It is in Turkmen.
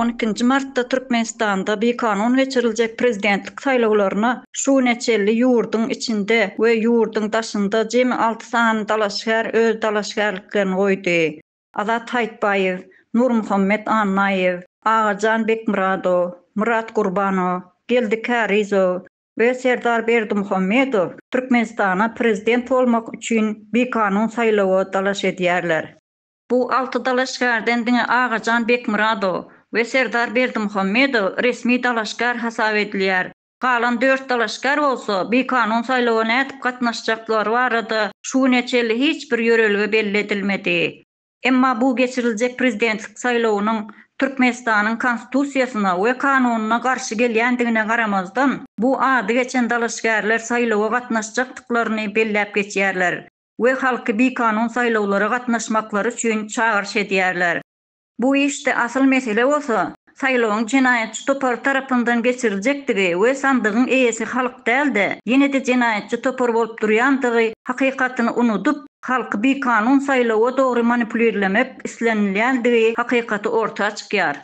On ikinji martda Türkmenistanda bikanun geçiriljek prezidentlik saýlawlaryna şu güne çenli ýurduň içinde we ýurduň daşynda jemi alty sany dalaşgär öz dalaşgärliklerini goýdy. Azat Haýytbaýew, Nurmuhammet Annaýew, Agajan Bekmyradow, Myrat Gurbanow, Geldi Kärizow we Serdar Berdimuhamedow Türkmenistana prezident bolmak üçin bikanun saýlawa dalaş edýärler. Bu alty dalaşgärden diňe Agajan Bekmyradow we Serdar Berdimuhamedow resmi dalaşgär hasap edilýär, Galan dört dalaşgär bolsa, bikanun saýlawa nädip gatnaşjaklary barada şu güne çenli hiç bir ýörelge belli edilmedi. Emma bu geçiriljek prezidentlik saýlawynyň Türkmenistanyň Konstitusiýasyna we kanunyna garşy gelýändigine garamazdan, bu ady geçen dalaşgärler saýlawa gatnaşjakdyklaryny belläp geçýärler we halky bikanun saýlawlara gatnaşmaklary üçin çagyryş edýärler. Bu işde asyl mesele bolsa, saýlawyň jenaýatçy topar tarapyndan geçiriljekdigi we sandygyň eýesi halk däl-de, ýene-de jenaýatçy topar bolup durýandygy hakykatyny unudyp, halky bikanun saýlawa dogry manipulirlemek islenilýändigi hakykaty orta çykýar.